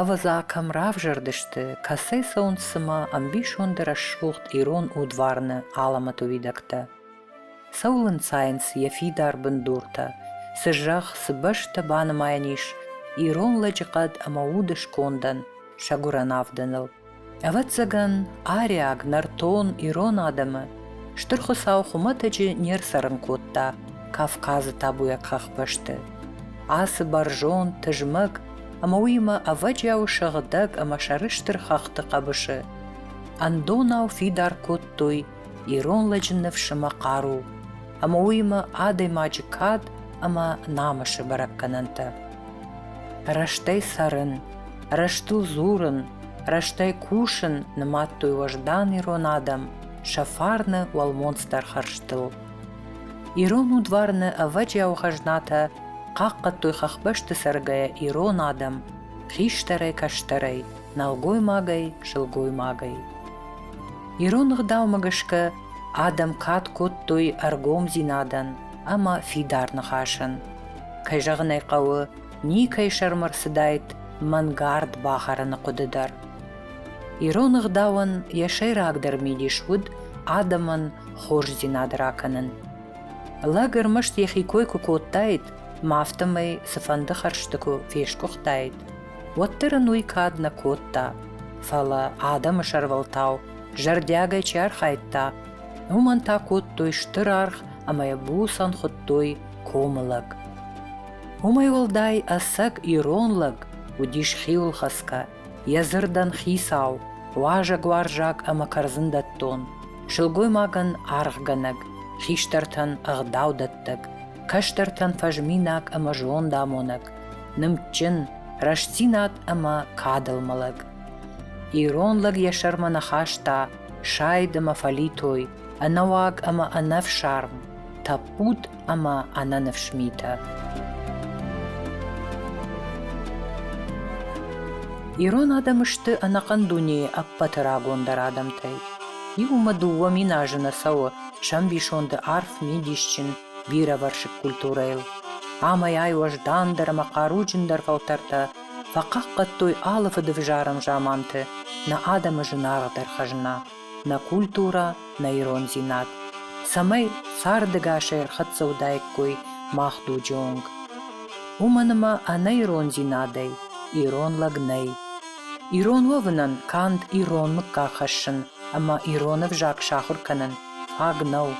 Ӕвӕдза, кӕм равзӕрдысты, кӕцӕй цӕуынц цымӕ ӕмбисонды рӕсугъд ирон удварны алӕмӕты уидӕгтӕ? Цӕуыл ӕнцайынц йӕ фидар бындуртӕ? Цы зӕхх, цы бӕстӕ банымайӕн ис ирон лӕджыхъӕд ӕмӕ уды скондӕн, сӕ гуырӕн авдыныл? Ӕвӕццӕгӕн, ариаг, нӕртон, ирон адӕмы Стыр Хуыцау хуымӕтӕджы не рцӕрын кодта Кавказы табуйаг хӕхбӕсты. Ацы бӕрзонд, тызмӕг ӕмӕ уыимӕ ӕвӕджиау сыгъдӕг ӕмӕ сӕрыстыр хӕхты хъӕбысы ӕндонау фидар кодтой ирон лӕджы ныфс ӕмӕ хъару, ӕмӕ уыимӕ адӕймаджы кад ӕмӕ намысы бӕрӕггӕнӕнтӕ. Рӕстӕй цӕрын, Рӕстыл дзурын, рӕстӕй кусын нымадтой уӕздан ирон адӕм сӕ фарны уӕлмонцдӕр хӕрзтыл. Ирон удварны ӕвӕджиау хӕзнатӕ хъахъхъӕдтой хӕхбӕсты цӕргӕйӕ ирон адӕм хистӕрӕй, кӕстӕрӕй, нӕлгоймагӕй, сылгоймагӕй. Ирон ӕгъдаумӕ гӕсгӕ адӕм кад кодтой ӕргомдзинадӕн ӕмӕ фидар ныхасӕн. Кӕй зӕгъын ӕй хъӕуы, никӕй сӕрмӕ рцыдаид мӕнгард бахӕрыны хъуыды дӕр. Ирон ӕгъдауӕн йӕ сӕйрагдӕр мидис уыд адӕмӕн хорздзинад ракӕнын. Лӕг ӕрмӕст йӕхи кой куы кодтаид, ма афтӕмӕй цыфӕнды хӕрзты куы фесгуыхтаид, уӕддӕр ын уый кад нӕ кодта, фӕлӕ адӕмы сӕрвӕлтау зӕрдиагӕй чи архайдта, уымӕн та кодтой стыр аргъ ӕмӕ йӕ буцӕн хуыдтой комы лӕг. Уымӕй уӕлдай ӕцӕг ирон лӕг уыдис хиуылхӕцгӕ, йӕ дзырдӕн хицау, уазӕгуарзаг ӕмӕ кӕрдзындӕттон, сылгоймагӕн аргъгӕнӕг, хистӕртӕн ӕгъдаудӕттӕг, кӕстӕртӕн фӕзминаг ӕмӕ зондамонӕг, нымдджын, рӕстдзинад ӕмӕ кадыл мӕлӕг. Ирон лӕг йӕ сӕрмӕ нӕ хаста сайд ӕмӕ фӕлитой, ӕнӕуаг ӕмӕ ӕнӕфсарм, тӕппуд ӕма ӕнӕнифс митӕ. Ирон адӕм сты ӕнӕхъӕн дунейы ӕппӕты рагондӕр адӕмтӕй. Иумӕ дыууӕ мин азы нӕ цӕуы сӕмбисонды арф мидисджын бирӕвӕрсыг культурӕйыл. Амӕй-ай уӕздандӕр ӕмӕ хъаруджындӕр фӕлтӕртӕ фӕхъахъхъӕдтой алы фыдывзарӕн заманты нӕ адӕмы зынаргъдӕр хӕзна. нӕ культурӕ, нӕ ирондзинад, цӕмӕй цардӕгасӕй ӕрхӕццӕ уыдаиккой мах дуджы онг. Уымӕн ӕмӕ ӕнӕ ирондзинадӕй ирон лӕг нӕй. Ирон уӕвынӕн канд ирон мыггаг хӕссын ӕмӕ ирон ӕвзаг сахуыр кӕнын фаг нӕу.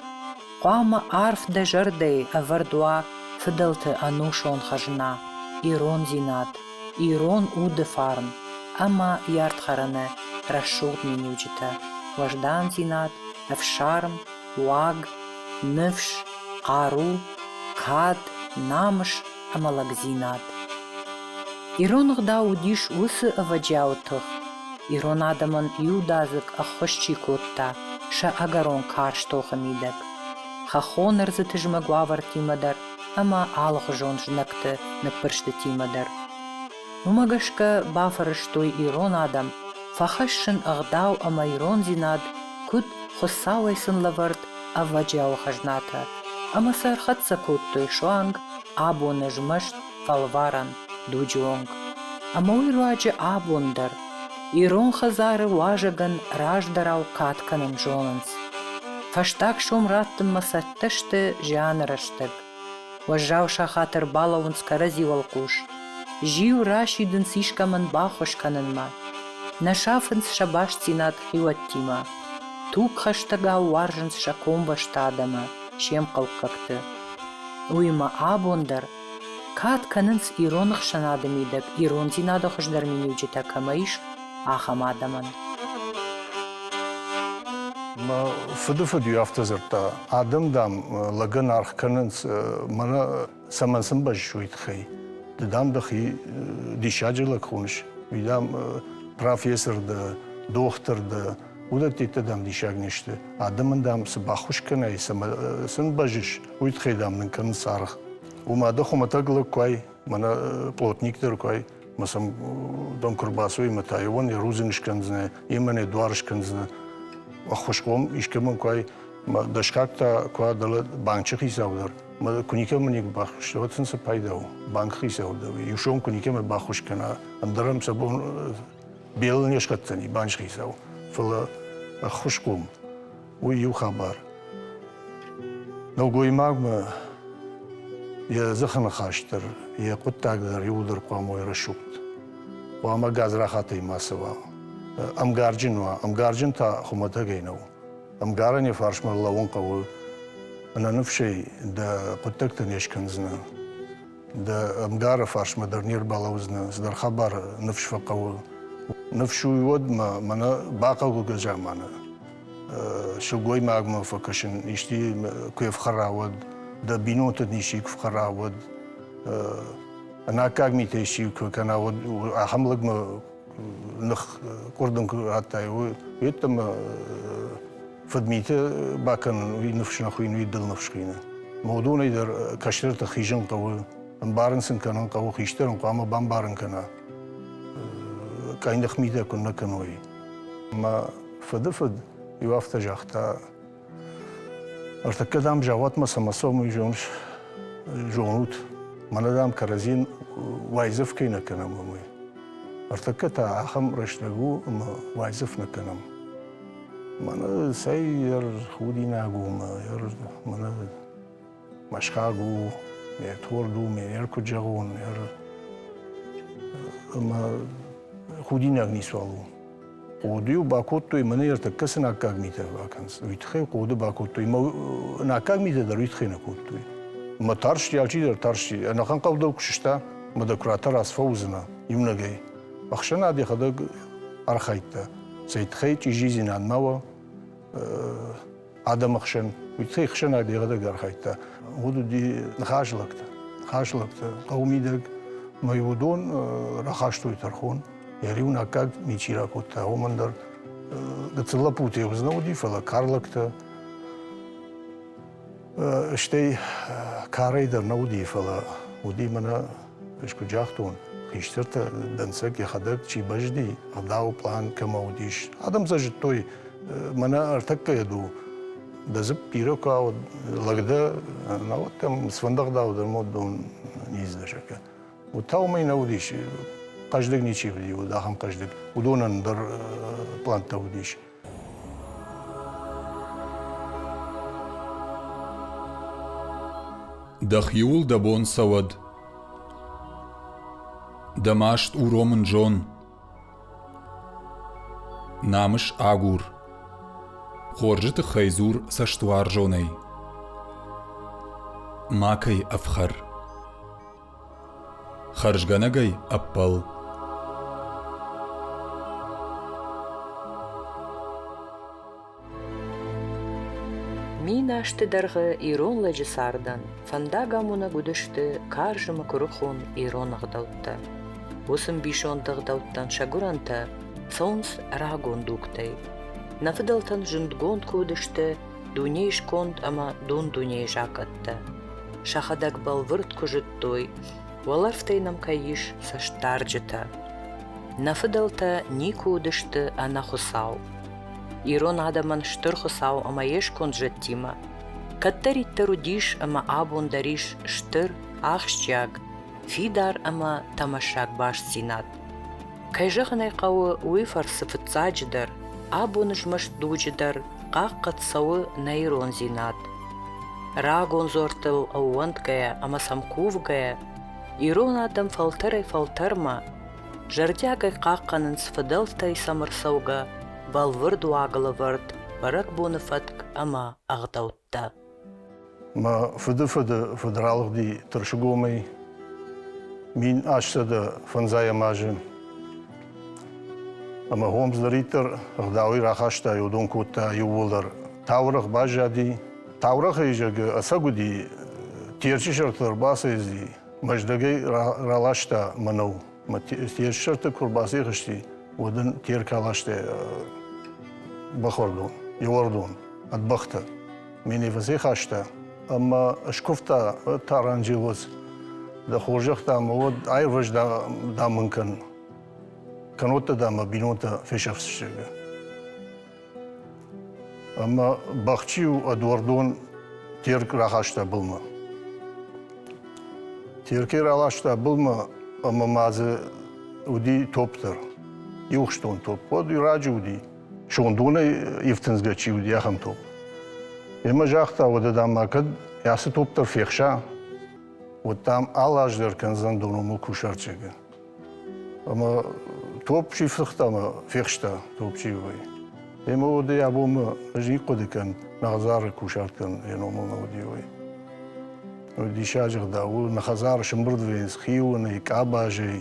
Хъуамӕ арф дӕ зӕрдӕйы ӕвӕрд уа фыдӕлты ӕнусон хӕзна, ирондзинад. Ирон уды фарн ӕмӕ йе рдхӕрӕны рӕсугъд миниуджытӕ, уӕздандзинад, ӕфсарм, уаг, ныфс, хъару, кад, намыс ӕмӕ лӕгдзинад. Ирон ӕгъдау уыдис уыцы ӕвӕджиауы тых, ирон адӕмӕн иудадзыг ӕххуыс чи кодта, сӕ ӕгӕрон карз тохы мидӕг. Хӕххон ӕрдзы тызмӕг уавӕртимӕ дӕр ӕмӕ алыхуызон знӕгты ныппырстытимӕ дӕр. Уымӕ гӕсгӕ бафӕрӕзтой ирон адӕм фӕхӕссын ӕгъдау ӕмӕ ирондзинад, куыд Хуыцауӕй сын лӕвӕрд ӕвӕджиауы хӕзнатӕ, ӕмӕ сӕ ӕрхӕццӕ кодтой суанг абоны змӕст фӕлварӕн дуджы онг. Ӕмӕ уый руаджы абон дӕр ирон хӕдзары уазӕгӕн раздӕрау кад кӕнын зонынц. Фӕстаг сом раттынмӕ сӕ Цӕттӕ сты зианы рӕстӕг. Уӕззау сахат ӕрбалӕууынц кӕрӕдзи уӕлхъус. Зиу расидынц искӕмӕн баххуыс кӕнынмӕ. Нӕ сафынц сӕ бастдзинад хиуӕттимӕ. Тугхӕстӕгау уарзынц сӕ комбӕсты адӕмы, се мхъӕуккӕгты. Уыимӕ абон дӕр кад кӕнынц ирон ӕхсӕнады мидӕг ирондзинады хуыздӕр миниуджытӕ кӕмӕ ис, ахӕм адӕмӕн. Мӕ фыдыфыд-иу афтӕ дзырдта, адӕм, дам, лӕгӕн аргъ кӕнынц, мӕнӕ цӕмӕн сын бӕззыс, уый тыххӕй. Ды, дам, дӕхи диссаджы лӕг хоныс, уый, дам, профессор дӕ, дохтыр дӕ, уыдӕттӕ дам диссаг не сты. Адӕмӕн дам цы баххуыс кӕнай, цӕмӕ сын бӕзис, уый тыххӕй дам нын кӕнынц аргъ. Уымӕ дӕ хуымӕтӕг лӕг куы ай, мӕнӕ плотник дӕр куы ай, мӕ сӕм дон куы рбацуй, мӕ та йеуан йӕ рудзынг скӕндзынӕ, йемӕ не дуар скӕндзынӕ. Ӕххуысхъом искӕмӕн куы ай, мӕ дӕсгаг та куы ай дӕлӕ банчы хицау дӕр. Мӕ куы никӕмӕ никуы баххуыс, уӕд сын цы пайда у? Банкы хицау дӕр иу сом куы никӕмӕ баххуыс кӕна, ӕндӕр ӕм сӕ бон Белыл не схӕцдзӕни, банзхицау, фӕлӕ ӕххуысхъом. Уый иу хабар. Нӕлгоймагмӕ йӕ дзыхы ныхас дӕр, йӕ хъуыддаг дӕр иууылдӕр хъуамӕ уой рӕсугъд. Хъуамӕ гадзрахатӕй мацы уа. Ӕмгарджын уа. Ӕмгарджын та хуымӕтӕгӕй нӕу. Ӕмгарӕн йӕ фарсмӕ лӕууын хъӕуы. Ӕнӕныфсӕй дӕ хъуыддӕгтӕ не скӕндзынӕ. Дӕ ӕмгары фарсмӕ дӕр не рбалӕудзынӕ, цыдӕр хабар ныфс фӕхъӕуы. Ныфс уый уӕд, мӕнӕ бахъӕуы гӕзӕманы сылгоймагмӕ фӕкӕсын, исчи куы ӕфхӕра, уӕд, дӕ бинонты ничи куы фхӕра, уӕд, ӕнаккаг митӕ исчи куы кӕна, уӕд ахӕм лӕгмӕ ных къуырдын куы радтай, уый йеддӕмӕ фыдмиты бакӕнын, уый ныфс нӕ хуыйын, уый дыл ныфс хуыйны. Модонӕй дӕр кӕстӕрты хизын хъӕуы, ӕмбарын сын кӕнын хъӕуы, хистӕр ын хъуамӕ бамбарын кӕна. Къӕйных митӕ куыннӕ кӕной. Мӕ фыды фыд иу афтӕ загъта, Ӕртӕккӕ, дам, зӕгъӕтмӕ сӕмӕ сомый зоныс, зонут, мӕнӕ, дам, кӕрӕдзин уайдзӕф кӕй нӕ кӕнӕм, уымӕй. Ӕртӕккӕ та ахӕм рӕстӕг у, ӕмӕ уайдзӕф нӕ кӕнӕм. Мӕнӕ цӕй ӕр худинаг у, ӕр мӕнӕ Мӕсхаг у, ме рторг у, ме рер куыд зӕгъон, ӕмӕ худинаг ницуал у. Хъоды-иу бакодтой мӕнӕ ӕртӕккӕ сын аккаг митӕ бакӕнынц. Уый тыххӕй хъоды бакодтой, мӕ аккаг митӕ дӕр уый тыххӕй нӕ кодтой. Мӕ тарсти, алчидӕр тарсти. Ӕнӕхъӕн хъӕу дӕр куы сыста, мӕ декоратор аз фӕуыдзынӕ иунӕгӕй. Ӕхсӕнад йӕхӕдӕг архайдта, цӕй тыххӕй чъизидзинад ма уа, адӕмы хсӕн, уыцы ӕхсӕнад йӕхӕдӕг архайдта. Уыд уыди ныхаslӕгтӕ. Ныхаслӕгтӕ хъӕуы мидӕг мӕй уыдон рахастой тӕрхон. Йӕ риуын аккаг ничи ракодта, уымӕн дӕр гыццыл лӕппутӕй уыдзынӕ уыди, фӕлӕ карлӕгтӕ. Стӕй карӕй дӕр нӕ уыди, фӕлӕ уыди мӕнӕ Ӕз куыд загътон, хистӕртӕ дӕнцӕг йӕхӕдӕг чи бӕзди, ӕгъдауы план кӕмӕ уыдис. Адӕм сӕ зыдтой, мӕнӕ ӕртӕккӕ йӕ ду. Дӕ дзыпп бирӕ куы ауад, лӕг дӕ, науӕд дӕм сфӕндӕгъдау дӕр мод дон низдзысӕкӕ. Уыд та уымӕй нӕ уыдис, хъӕздыг ничи уыди, уыд ахӕм хъӕздыг, уыдонӕн дӕр плантӕ уыдис. Дӕхиуыл дӕ бон цӕуӕд. Дӕ маст уромын зон. Намыс агур. Хорзы тыххӕй дзур цӕстуарзонӕй. Макӕй ӕфхӕр. Хӕрзгӕнӕгӕй ӕппӕл. Мин азты дӕргъы ирон лӕджы цардӕн фӕндагамонӕг уыдысты карзымы куырыхон ирон ӕгъдӕуттӕ. Уыцы мбисонд ӕгъдӕуттӕн сӕ гуырӕнтӕ цӕуынц рагон дугтӕй. Нӕ фыдӕлтӕн зындгонд куы уыдысты Дунейы сконд ӕмӕ дон-дунейы закъӕттӕ сӕхӕдӕг бӕлвырд куы зыдтой, уӕлӕрвтӕй нӕм кӕй ис цӕстдарджытӕ. Нӕ фыдӕлтӕ никуы уыдысты ӕнӕ Хуыцау. Ирон адӕмӕн стыр Хуыцау ӕмӕ йе сконд зӕдтимӕ кӕддӕриддӕр уыдис ӕмӕ абон дӕр ис стыр, ахсджиаг, фидар ӕмӕ тӕмӕссаг бастдзинад. Кӕй зӕгъын ӕй хъӕуы, уый фӕрцы фыццаджыдӕр абон змӕст дуджы дӕр хъахъхъӕд цӕуы нӕ ирондзинад. Рагон дзуӕрттыл ӕууӕндгӕйӕ ӕмӕ сӕм кувгӕйӕ, ирон адӕм фӕлтӕрӕй-фӕлтӕрмӕ зӕрдиагӕй хъахъхъӕнынц фыдӕлтӕй сӕм ӕрцӕугӕ бӕлвырд уагылӕвӕрд бӕрӕгбоны фӕтк ӕмӕ ӕгъдӕуттӕ. кодта. Мӕ фыдыфыды фыд ралыгъди Тырсыгомӕй мин астсӕдӕ фӕндзайӕм азы. Ӕмӕ Хомс дӕриддӕр ӕгъдауӕй рахаста, уыдон кодта иууылдӕр. Таурӕгъ баззади, таурӕгъы изӕгы ӕцӕг уыди, Терчы сӕрты ӕрбацӕйцыди, Мӕздӕгӕй раласта мӕнӕу. Те сӕрты куы рбацъӕхсти, уӕд ын Терка ластой бӕхуӕрдон, йе уӕрдон ӕд бӕхтӕ. Ме не фӕцӕйхаста ӕмӕ скуывта Таранджелос, дӕ хорзӕхтӕ мӕ уӕд аирвӕз, дам мын кӕн. Кӕннод дӕ мӕ бинонтӕ фесӕфдзысты. Ӕмӕ Бахчиу ӕдуӕрдон Терк рахаста былмӕ. Теркӕй раласта былмӕ ӕмӕ ма дзы уыди топ дӕр. Иухстон топ. Уӕд раджы уыди, сондонӕй ифтындзгӕ чи уыди, ахӕм топ. Йемӕ загъта, уӕдӕ дам ма кӕд ацы топ дӕр фехса, уӕд дам алаздӕр кӕндзӕн доном кусарчегы. Ӕмӕ топ чи фыхта ӕмӕ фехста топ чи уой, ема уӕдӕй абонмӕ ӕз ихъхъуыды кӕн, нӕ хӕдзары кусарт кӕн йӕ номыл нӕ уыди, уой. Диссаджы гъдау, нӕ хӕдзары сымбырдвейс, хионӕй, къабазӕй,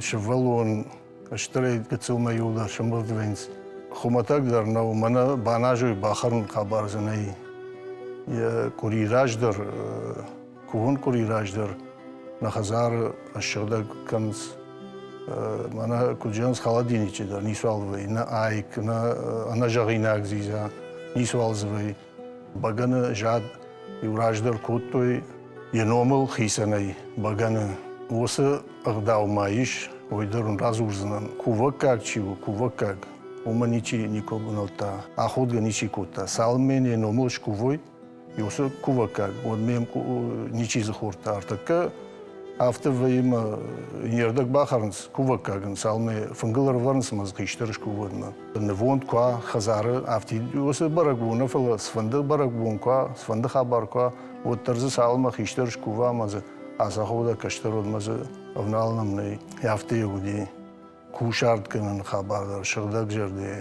сывӕллон, стырӕй гыццылмӕ иу дӕр сымбырдвейс хуымӕтӕг дӕр нӕу, мӕнӕ баназой бахӕрын къӕбӕрдзынӕй. Йӕ къуыри раздӕр кувын къуыри раздӕр мӕ хӕдзары ссыгъдӕг кӕнынц мӕнӕ куыд зӕгъынц холодильничы дӕр ницуал вӕййы нӕ айк нӕ ӕнӕзӕгъинаг дзидза ницуал дзы вӕййы бӕгӕны зад иу раздӕр кодтой йӕ номыл хицӕнӕй бӕгӕны уыцы ӕгъдау ма ис уый дӕр уын радзурдзынӕн кувӕггаг чи у кувӕггаг уымӕ ничи никуы бынӕлдта аходгӕ ничи кодта цалынмӕ йӕ номыл скувой уыцы кувӕггаг, уӕд ме ничи дзы хордта ӕртӕккӕ, афтӕ вӕййы мӕ не рдӕг бахӕрынц кувӕггагӕн, цалынмӕ фынгыл ӕрывӕрынц мӕ дзы хистӕр скувӕнмӕ. Нывонд куы уа хӕдзары, афтӕ уыцы бӕрӕгбоны, фӕлӕ цыфӕнды бӕрӕгбон куы уа, цыфӕнды хабар куы уа, уӕддӕр дзы цалынмӕ хистӕр скува, мӕ дзы ацахода кӕстӕрод мӕ дзы ӕвналынам нӕй. Афтӕ йӕ уыди. кусартгӕнӕн хабар дӕр сыгъдӕгзӕрдӕ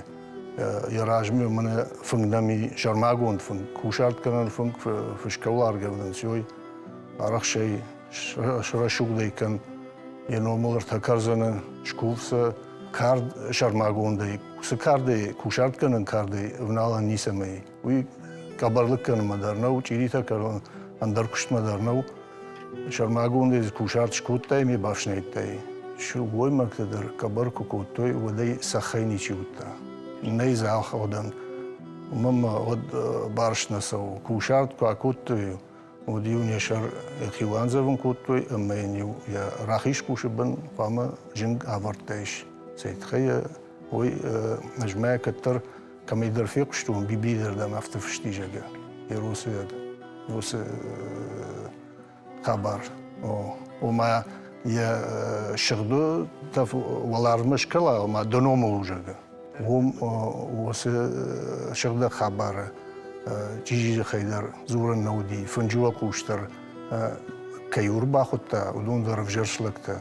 йӕ размӕ мӕнӕ фынг нӕм и сӕрмагонд фынг кусартгӕнӕн фынг фысгӕуаргӕвдӕн сёй арӕхсӕй срӕсугъдӕй кӕн йе номыл ӕртӕкӕрдзӕны скув сӕ кард сӕрмагондӕй цы кардӕй кусартгӕнӕн кардӕй ӕвналӕн ницӕмӕй уый къӕбӕрлыггӕнынмӕ дӕр нӕу, чъиритӕ кӕрон ӕндӕр куыстмӕ дӕр нӕу. Сӕрмагондӕй дзы кусарт скодтай ме бафснайдтай. Сылгоймӕгтӕ дӕр къӕбӕр куы кодтой, уӕдӕй цӕххӕй ничи уыдта. Нӕй дзы алхӕуӕдӕн. Уымӕн ма уӕд барст нӕ цӕуы. Кусарт куы акодтой, уӕд-иу не сӕр йӕхи уандзӕвын кодтой ӕмӕ йын-иу йӕ рахиз къусы бын хъуамӕ зынг авӕрдтаис. Цӕй тыххӕй уой, ӕз мӕ кӕддӕр Кӕмӕйдӕр фехъуыстон Бибийы зӕрдӕмӕ афтӕ фыстизӕгы, Еросуйаг, уыцы хабар. Ома йӕ сыгъдытӕ уӕларвмӕ скалаумӕ до номыл узӕгы. Уым уыцы сыгъдӕг хабары чижи дзыхӕй дӕр дзурӕн нӕ уыди, фынджы уӕ хъус дӕр кӕй ӕрбахуыдта, уыдон дӕр ӕвзӕрст лӕгтӕ.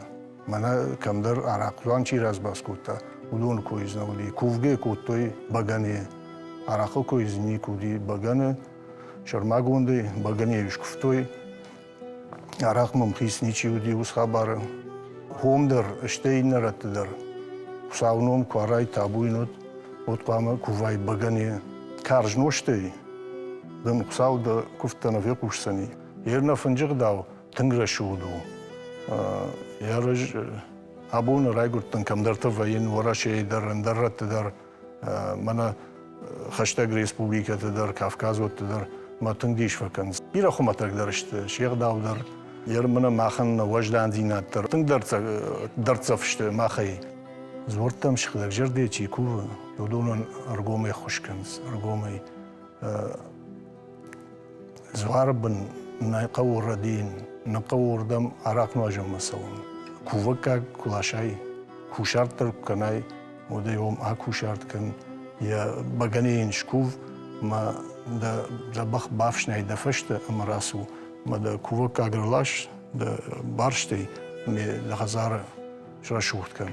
Мӕнӕ кӕмдӕр арахъхъ чи разбас кодта, уыдоны кой дзы нӕ уыди. Кувгӕ кодтой бӕгӕныйы. Арахъхъы кой дзы никуы уыди бӕгӕны. Сӕрмагондӕй бӕгӕныйы скуывтой. Арахъ мымхиц ничи уыди уыцы хабары. Хом дӕр, стӕй иннӕ рӕтты дӕр Хуыцауы ном Куарӕй табуин уыд, уӕд хъуамӕ кувай бӕгӕныйы. Карз нозтӕй дын Хуыцау дӕ куывдтӕ нӕ фехъусдзӕни. Йе рнӕ фынджы гъдау тынг рӕсугъд у. Йӕ раз абоны райгуырдтӕн кӕмдӕрты вӕййын Уӕрӕсейы дӕр, ӕндӕр рӕтты дӕр, мӕнӕ хӕстӕг республикӕты дӕр, кавказотты дӕр мӕ тынг дис фӕкӕнынц. Бирӕ хуымӕтӕгдӕр сты, се гъдау дӕр, йе рмӕнӕ махӕн нӕ уӕздандзинад дӕр тынг дӕрддзӕф сты махӕй. Дзуӕрттӕм сыгъдӕгзӕрдӕ чи кувы, уыдонӕн ӕргомӕй ххуыс кӕнынц, ӕргомӕй Дзуары бын нӕ хъӕуы рӕдийын, нӕ хъӕуы уырдӕм арахъ нуазӕнмӕ цӕуын. Кувӕггаг куы ласай, кусарт дӕр куы кӕнай, уӕдӕй уым акусарт кӕн, йӕ бӕгӕныйы йын скув, ма дӕ, дӕ бӕх бафснай дӕ фӕстӕ ӕмӕ рацу. Ма дӕ кувӕггаг ӕрлас дӕ барстӕй, ме дӕ хӕдзары срӕсугъд кӕн.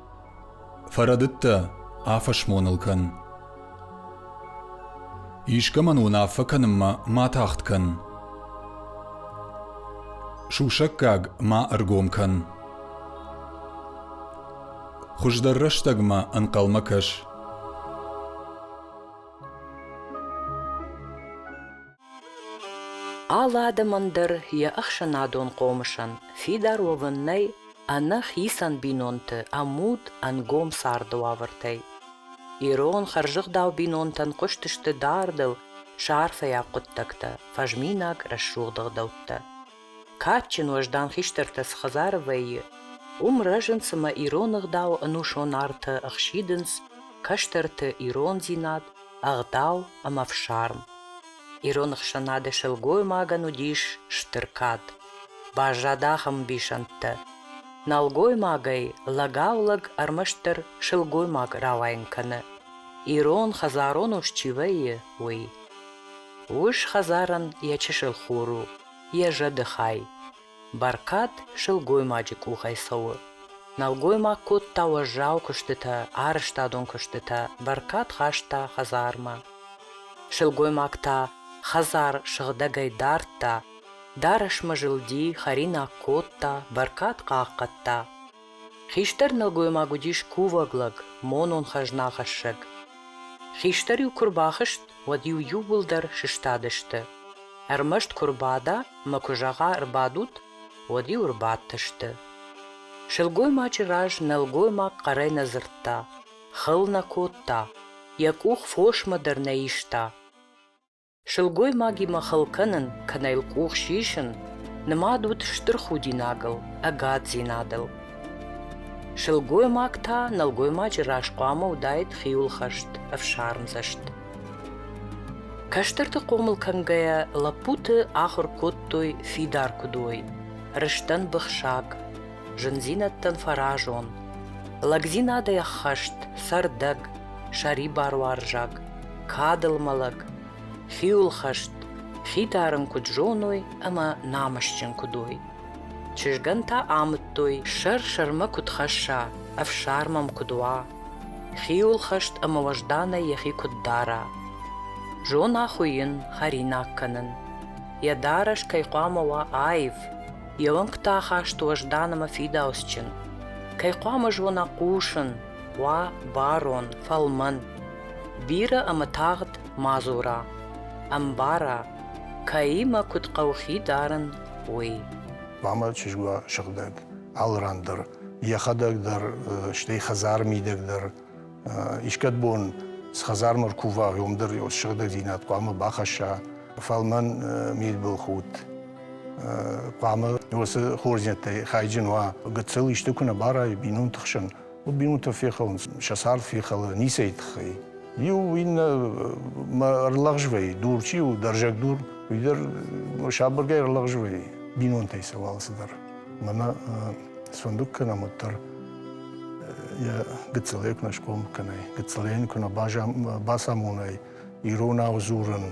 Фӕрӕдыдтӕ, афӕсмон ыл кӕн. Искӕмӕн уынаффӕ кӕнынмӕ ма тагъд кӕн. Сусӕггаг ма ӕргом кӕн. Хуыздӕр рӕстӕгмӕ ӕнхъӕлмӕ кӕс. Алы адӕмӕн дӕр йӕ ӕхсӕнадон хъомысӕн фидар уӕвын нӕй ӕнӕ хицӕн бинонты ӕмуд ӕнгом царды уавӕртӕй. Ирон хӕрзӕгъдау бинонтӕн хъуыстысты дардыл сӕ арфӕйаг хъуыддӕгтӕ, фӕзминаг рӕсугъд ӕгъдӕуттӕ. Кадджын уӕздан хистӕртӕ цы хӕдзары вӕййы, уым рӕзынц ӕмӕ ирон ӕгъдауы ӕнусон артӕ ӕхсидынц кӕстӕрты ирондзинад, ӕгъдау ӕмӕ фсарм. Ирон ӕхсӕнады сылгоймагӕн уыдис стыр кад. Баззад ахӕм ӕмбисӕндтӕ. Нӕлгоймагӕй лӕгау-лӕг ӕрмӕстдӕр сылгоймаг рауайын кӕны, ирон хӕдзарон ус чи вӕййы, уый. Ус хӕдзарӕн йӕ чысыл хур у, йӕ зӕдыхай. Бӕркад сылгоймаджы къухӕй цӕуы. Нӕлгоймаг кодта уӕззау куыстытӕ, арӕзтадон куыстытӕ, бӕркад хаста хӕдзармӕ. Сылгоймаг та хӕдзар сыгъдӕгӕй дардта, дарӕсмӕ зылди, хӕринаг кодта, бӕркад хъахъхъӕдта. Хистӕр нӕлгоймаг уыдис кувӕг лӕг, монон-хӕзнахӕссӕг. Хистӕр-иу куы рбахызт, уӕд-иу иууылдӕр сыстадысты. Ӕрмӕст куы рбада ӕмӕ куы зӕгъа ӕрбадут, уӕд-иу ӕрбадтысты. Сылгоймаджы раз нӕлгоймаг хъӕрӕй нӕ дзырдта, хыл нӕ кодта, йӕ къух фосмӕ дӕр нӕ иста. Сылгоймагимӕ хыл кӕнын, кӕнӕ йыл къух сисын, нымад уыд стыр худинагыл, ӕгаддзинадыл. Сылгоймаг та нӕлгоймаджы раз хъуамӕ уыдаид хиуылхӕст, ӕфсармдзӕст. Кӕстӕрты хъомыл кӕнгӕйӕ лӕппуты ахуыр кодтой фидар куыдой, рыстӕн быхсаг, зындзинӕдтӕн фӕразон, лӕгдзинадӕй ӕххӕст цӕрдӕг, сӕрибаруарзаг, кадыл мӕлӕг, хиуылхӕст, хидарын куыд зоной ӕмӕ намысджын куыд уой. Чызгӕн та амыдтой, сӕр-сӕрмӕ куыд хӕсса, ӕфсӕр мӕм куыд уа, хиуылхӕст ӕмӕ уӕзданӕй йӕхи куыд дара. Зона хуыйын, хӕринаг кӕнын. Йӕ дарӕс кӕй хъуамӕ уа аив, Йе уӕнгтӕ ахаст уӕздан ӕмӕ фидауцджын. Кӕй хъуамӕ зона хъусын, хъуа барон, фӕлмӕн. Бирӕ ӕмӕ тагъд ма дзура, ӕмбара, кӕимӕ куыд хъӕуы хи дарын, уый. Хъуамӕ чызг уа сыгъдӕг, алы ран дӕр, йӕхӕдӕг дӕр, стӕй хӕдзары мидӕг дӕр Искӕд бон схӕдзармӕ ркува, уомдӕр еу сыгъдӕгдзийнад хъуамӕ бахӕсса, фал мӕн мидбылхудт хъуамӕ уоцы хорздзинӕдтӕй хайджын уа. Гыццыл исты куы нӕ барайы бинонты хсӕн, уӕд бинонтӕ фехӕлынц, сӕ цард фехӕлы ницӕй тыххӕй. Иу иннӕмӕ ӕрлӕгъзвӕйы, дур чи у, дӕрзӕг дур, уый дӕр сабыргай ӕрлӕгъзвӕйы бинонтӕй сӕ уал цыдӕр. Мӕнӕ сфӕндуг кӕнӕм уӕддӕр йӕ гыццылӕй куы нӕ схъом кӕнай, гыццылӕй йын куы нӕ бацамонай иронау дзурын,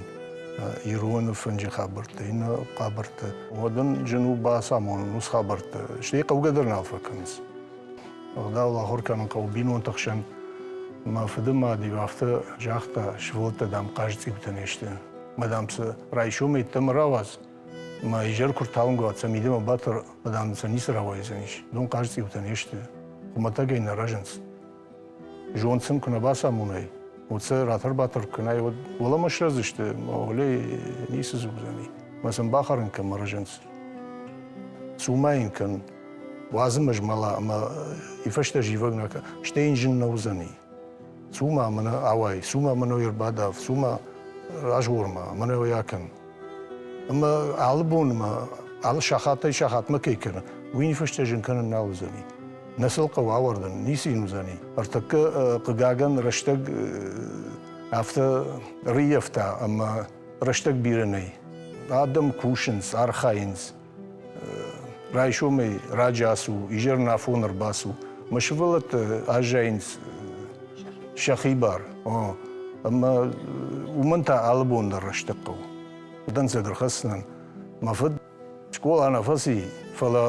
ироны фынджы хабӕрттӕ, иннӕ хабӕрттӕ, уӕд ын зын у бацамонын уыцы хабӕрттӕ, стӕй хъӕугӕ дӕр нал фӕкӕнынц. Ӕгъдау ахуыр кӕнын хъӕуы бинонты хсӕн. Мӕ фыдымад-иу афтӕ загъта, сывӕллӕттӕ, дам, хъазцъиутӕ не сты. Мадам, цы райсом йеддӕмӕ рауадз, Мӕ изӕр куы рталынг сӕ мидӕмӕ батыр, бадам сӕ ницы рауайдзӕнис. Дон хъазцъиутӕ не сты. Хуымӕтӕгӕй нӕ рӕзынц. Зонд сын куы нӕ бацамонай, уӕд сӕ ратӕр-батӕр кӕнай, уӕд уӕлӕмӕ срӕдзысты, маугълей ницы дзурдзӕни. Мӕ сын бахӕрын кӕмӕ рӕзынц. Цума йын кӕн, уадзы мӕ змӕла ӕмӕ и фӕстӕ зивӕг нӕ кӕ, стӕй йын зын нӕ уыдзӕни. Цу-ма мӕнӕ ауай, цу-ма мӕ ной ӕрбадав, цу-ма разгъор-ма, мӕнӕ уый акӕн. Ӕмӕ алы бонмӕ, алы сахатӕй сахатмӕ кӕй кӕны, уый ниффыстӕ зын кӕнын нал уыдзӕни. Нӕ сыл хъӕуы ауӕрдын, ницы йын уыдзӕни. Ӕртӕккӕ, хъыгагӕн, рӕстӕг афтӕ рыййӕфта, ӕмӕ рӕстӕг бирӕ нӕй. Адӕм кусынц, архайынц, Райсомӕй раджы ацу, изӕр на афон ӕрбацу. Мӕ сывӕллӕттӕ аззайынц сӕхи бар. Ӕмӕ уымӕн та алы бон дӕр рӕстӕг хъӕуы. Дӕнцӕг ӕрхӕсдзынӕн мӕ фыд скъола нӕ фӕци, фӕлӕ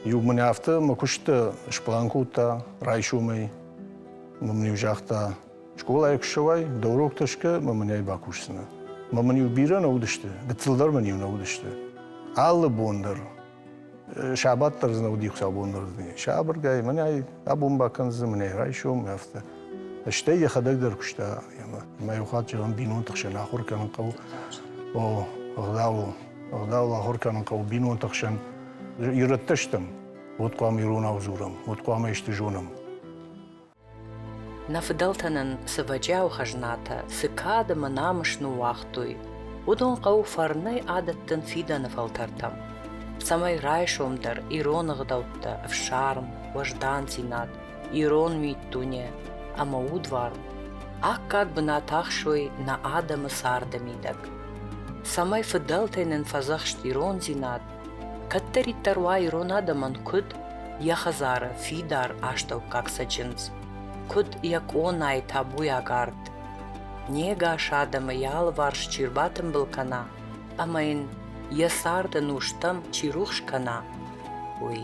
иу мын афтӕ мӕ куысты сплан кодта райсомӕй. Мын-иу загъта, Скъолайы куы ссӕуай, дӕ уроктӕ скӕ, мӕ мын ӕй бакусдзынӕ. Мӕ мын-иу бирӕ нӕ уыдысты, гыццыл дӕр мын-иу нӕ уыдысты. Алы бон дӕр сабат дӕр дзы нӕ уыди хуыцаубон дӕр дунейы. Сабыргай, мӕнӕй абон бакӕндзынӕн, мӕнӕй райсом, афтӕ. Стӕй йӕхӕдӕг дӕр куыста ӕмӕ мӕ иу хатт зӕгъын бинонты хсӕн ахуыр кӕнын хъӕуы. О, ӕгъдауыл, ӕгъдауыл ахуыр кӕнын хъӕуы бинонты хсӕн. Ирӕттӕ стӕм, уӕд хъуамӕ иронау дзурӕм, уӕд хъуамӕ исты зонӕм. Нӕ фыдӕлтӕ нын цы вӕджиауы хӕзнатӕ, цы кад ӕмӕ намыс ныууагътой, уыдон хъӕуы фӕрнӕй адӕттын фидӕны фӕлтӕртӕм, цӕмӕй райсом дӕр ирон ӕгъдӕуттӕ, ӕфсарм, уӕздандзинад, ирон миддуне ӕмӕ удвар аккаг бынат ахсой нӕ адӕмы царды мидӕг, цӕмӕй фыдӕлтӕй нын фӕдзӕхст ирондзинад Кӕддӕриддӕр уа ирон адӕмӕн куыд йӕ хӕдзары фидар астӕуккаг цӕджындз, куыд йӕ къонайы табуйаг арт. Не гас адӕмы йӕ алыварс чи рбатымбыл кӕна ӕмӕ йын йӕ цард ӕнустӕм чи рухс кӕна, уый.